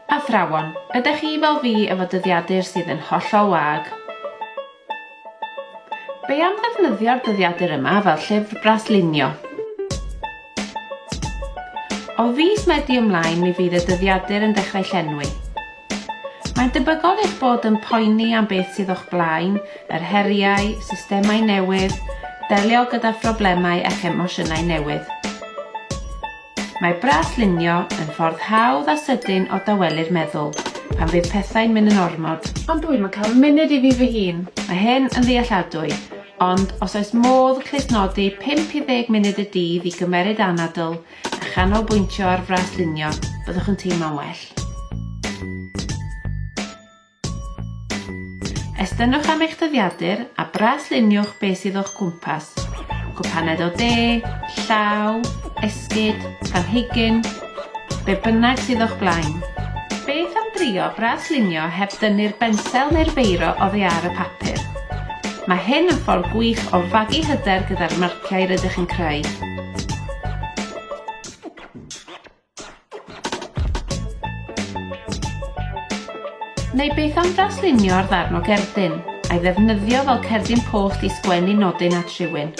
Athrawon, ydych chi fel fi efo dyddiadur sydd yn hollol wag? Be am ddefnyddio'r dyddiadur yma fel llyfr braslunio? O fis Medi ymlaen mi fydd y dyddiadur yn dechrau llenwi. Mae'n debygol eich bod yn poeni am beth sydd o'ch blaen, yr heriau, systemau newydd, delio gyda phroblemau a'ch emosiynau newydd. Mae braslunio yn ffordd hawdd a sydyn o dawelu'r meddwl pan fydd pethau'n mynd yn ormod. Ond dwi'm yn cael munud i fi fy hun. Mae hyn yn ddealladwy, ond os oes modd clustnodi 5 i 10 munud y dydd i gymeryd anadl a chanolbwyntio ar fraslunio, byddwch yn teimlo'n well. Estynnwch am eich dyddiadur a brasluniwch beth sydd o'ch cwmpas. Cwpaned o de, llaw, esgid, planhigyn, be bynnag sydd o'ch blaen. Beth am drio braslunio heb dynnu'r bensel neu'r beiro oddi ar y papur? Mae hyn yn ffordd gwych o fagu hyder gyda'r marciau rydych yn creu. Neu beth am draslunio'r ddarn o gerdyn, a'i ddefnyddio fel cerdyn post i sgwennu nodyn at rhywun?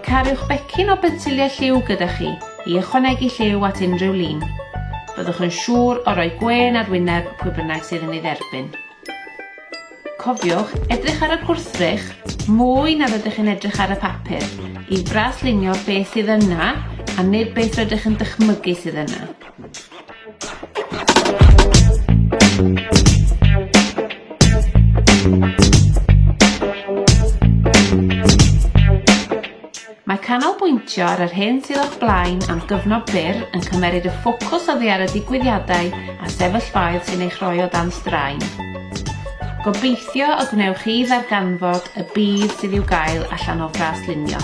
Cariwch becyn o bensiliau lliw gyda chi. I ychwanegu lliw at unrhyw lun, byddwch yn siŵr o roi gwên ar wyneb pwy bynnag sydd yn ei dderbyn. Cofiwch edrych ar y gwrthrych mwy na rydych chi'n edrych ar y papur i fraslunio beth sydd yna a nid beth rydych yn dychmygu sydd yna. Mae canolbwyntio ar yr hyn sydd o'ch blaen am gyfnod byr yn cymeryd y ffocws oddi ar y digwyddiadau a sefyllfaoedd sy'n eich rhoi o dan straen. Gobeithio y gwnewch chi ddarganfod y budd sydd i'w gael allan o fras lunio.